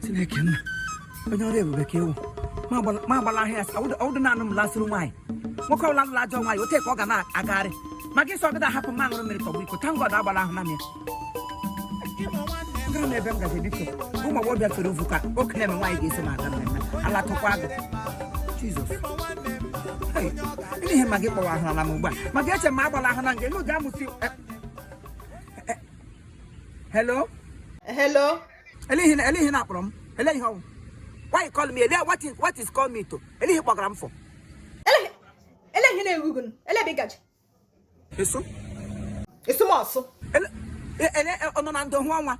chineke nna onye ọrụ ebube ka ị wụ m agbala ahịa asa ọdụ na anụ m lasịrị nwaanyị nwoke ọbụla lụrụ ajọ nwaanyị otu a ka ọ ga na-agagharị maka ịsọ ọgịda ahapụ mma aṅụrụ mmiri tọgbọ iko thank god agbalahụna m ya gara m ebe m gaje biko ụmụ agbọghọbịa fere ofu ka oke na-eme nwaanyị ga-eso m aga mmemme alatụkwa agụ jizọs ihe ma gị kpọwa ahụ ala m ugbu a maka eche m agbalahụna nge n'oge amusu Hello? Hello? Ele ihe ele ihe ị na-akpọrọ m. Ele ihe ọ wụ. Why you call me? Ele what is what is call me to? Ele ihe ị kpọgara m for. Ele ele ihe na-ewu gị. Ele ebe ị gaje. Eso. Eso m ọsụ. Ele ele ọ nọ na ndụ hụ ọnwa.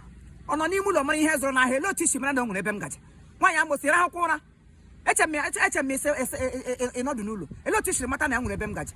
Ọ nọ n'ime ụlọ mara ihe zụrụ n'ahịa. Ele otu i si mara na o nwere ebe m gaje. Nwaanyị amusu ire akwụkwọ ụra. Eche m eche m ị sị ịnọdụ n'ụlọ. Ele otu i si mata na e nwere ebe m gaje.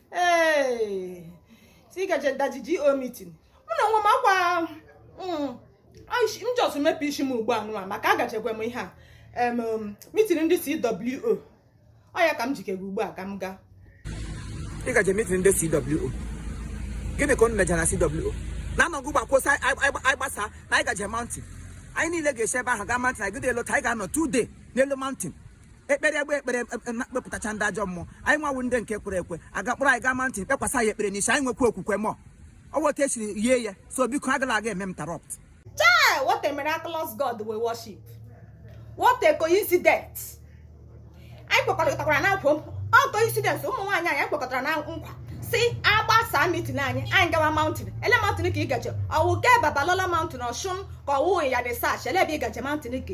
Hey, si gaje daddy GO meeting. Mụ na nwa m akwa mm, aish- m just mepe isi m ugbu a nụwa maka agajekwa m ihe a em um, meeting ndị CWO ọ ya ka m jikere ugbu a ka m gaa ị gaje meeting ndị CWO gịnị ka unu meje na CWO na anọgụ gbakwosa anyị gbasa na anyị gaje mountain anyị niile ga-esi ebe ahụ gaa mountain anyị gide lota anyị ga-anọ two days n'elu mountain ekpere ekpe ekpere kpepụtacha ndị ajọ mmụọ anyị nwa wụ ndị nke kwere ekwe a ga-akpọrọ anyị gaa mountain kpekwasa anyị ekpere n'isi anyị nwekwa okwukwe mọ ọ bụ otu e siri yie ya so biko agala aga eme m interrupt chee what a miraculous god we worship what a coincidence anyị kpekọrịtakwara na nkwa ọ coincidence ụmụ nwaanyị anyị kpekọtara na nkwa sị a gbasaa mitin anyị anyị gawa mountain ele mountain ka ị gaje ọ wụ ke babalola mountain ọshụn ka ọ wụ ya de sach ele ebe ị gaje mountain ka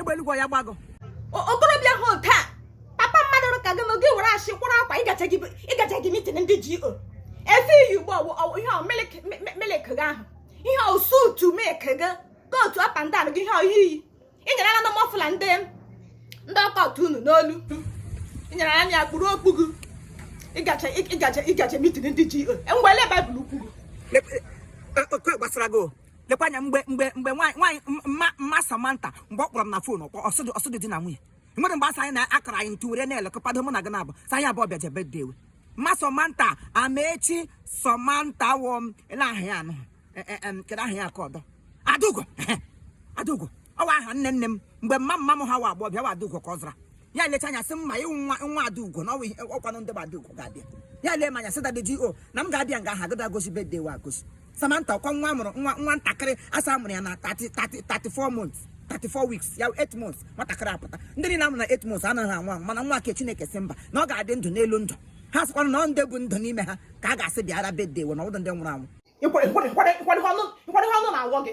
egbe eluigwe ya gbagbuo okorobịa ahụ taa papa mmadụ ru ka gị na gị were ashị kwụrụ akwa ị gaje gị mitin ndị GO efe i yi ugbu a ihe milik gị ahụ ihe osutu milk gị kootu up and down gị ihe oyi i yi i nyerela na muffler ndị ndị ọka ọtụ unu n'olu i nyerela na ya kpuru okpu gị ị gaje ị gaje ị gaje mitin ndị GO e ngwa ele baịbụl ukwu gị gbasara gị lekwa anya mgbe mgbe mgbe nwaanyị nwaanyị mma mma samantha mgbe ọ kpọrọ m na phone ọkpọ ọsụdụ ọsụdụ di na nwunye nwere mgbe asị anyị na akara anyị ntu were nail akụpado mụ na gị na ọ bụ sị anyị abụọ bịa je birthday nwa mma samantha amaechi samantha wọm ele aha ya anụ E- e- em, kedu aha ya ka ọdọ adaugo adaugo ọ wụ aha nne nne m mgbe mma mma m ha wụ agbọbịa wa adaugo ka ọ zara ya lecha anya sị mma ị wụ nwa nwa adaugo na ọnwa ọkwanụ ndị bụ adaugo ga-abịa ya lee m anya sị daddy g.o. na m ga-abịa nga ahụ agada agosi birthday wa agosi samantha ọkwa nwa mụrụ nwa nwa ntakịrị a sị a mụrụ ya na 30 30 34 months 34 weeks ya 8 months nwatakịrị apụta ndị niile a mụrụ na 8 months anaghị anwụ anwụ mana nwa ke chineke si mba na ọ ga-adị ndụ n'elu ndụ ha sịkwanụ na ọ ndị bụ ndụ n'ime ha ka a ga-asị bịara birthday wa na ọdụ ndị nwụrụ anwụ ịkwado ọnụ na-awọ gị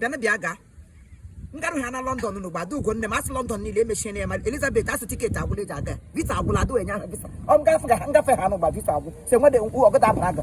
bịanụ bịa gaa ngarụ ha na london n'ụgbọ adaugo nne m asị london niile emechiena ya ma elizabeth asị tiketi agwụla eji aga visa agwụla ada enye ha visa ọ ngafe ga ngafe ha n'ụgba visa agwụ se nwede nkwụ ọgọda abara aga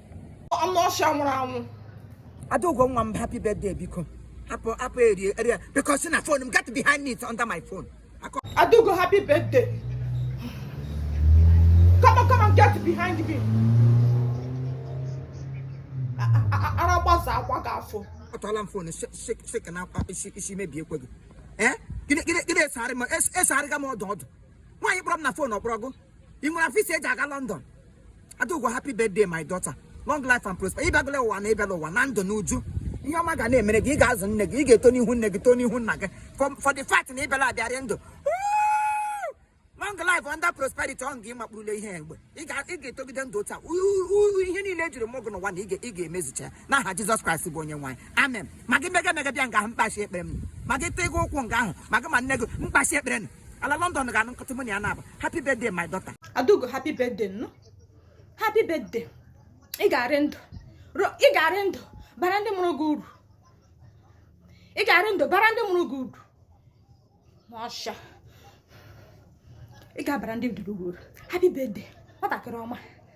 ọnụ ọsha nwụrụ anwụ Adaugo nwa m happy birthday biko hapụ hapụ eri area biko si na phone m get behind it under my phone Adaugo happy birthday come on come on get behind me A- a- a- ara gbazaakwa gị afọ atọla m phone sik na akwa isi isi mebiekwe gị ee gịnị gịnị gịnị esegharị m esegharịga m ọdụ ọdụ nwaanyị kpọrọ m na phone ọ kpọrọ gụ ị nwere visa eji aga London Adaugo happy birthday my daughter long life and prosper ị bịagala ụwa na ị bịala ụwa na ndụ na uju ihe ọma ga na-emere gị ị ga-azụ nne gị ị ga-eto n'ihu nne gị too n'ihu nna gị for for the fact na ị bịala abịa rị ndụ Woo! long life and prosperity ọ ga ịmakpurule ihe egbe ị ga- ị ga-etogide ndụ otu a U- u- u- ihe niile ejiri mụ gị n'ụwa na ị ga- ị ga-emezucha ya n'aha Jizọs Kraịst bụ onye nwe anyị amen ma gị mega mega bịa nga ahụ mkpachi ekpere m ma gị tee gị ụkwụ nga ahụ ma gị ma nne gị mkpachi ekpere nụ ala london ga-anụ mkpọtụ mụ na ya na-aba happy birthday my daughter adaugo happy birthday nụ happy birthday ị ga-arị ndụ ro- ị ga-arị ndụ bara ndị mụrụ gị uru ị ga-arị ndụ bara ndị mụrụ gị uru n'ọsha ị ga-abara ndị duru gị uru happy birthday nwatakịrị ọma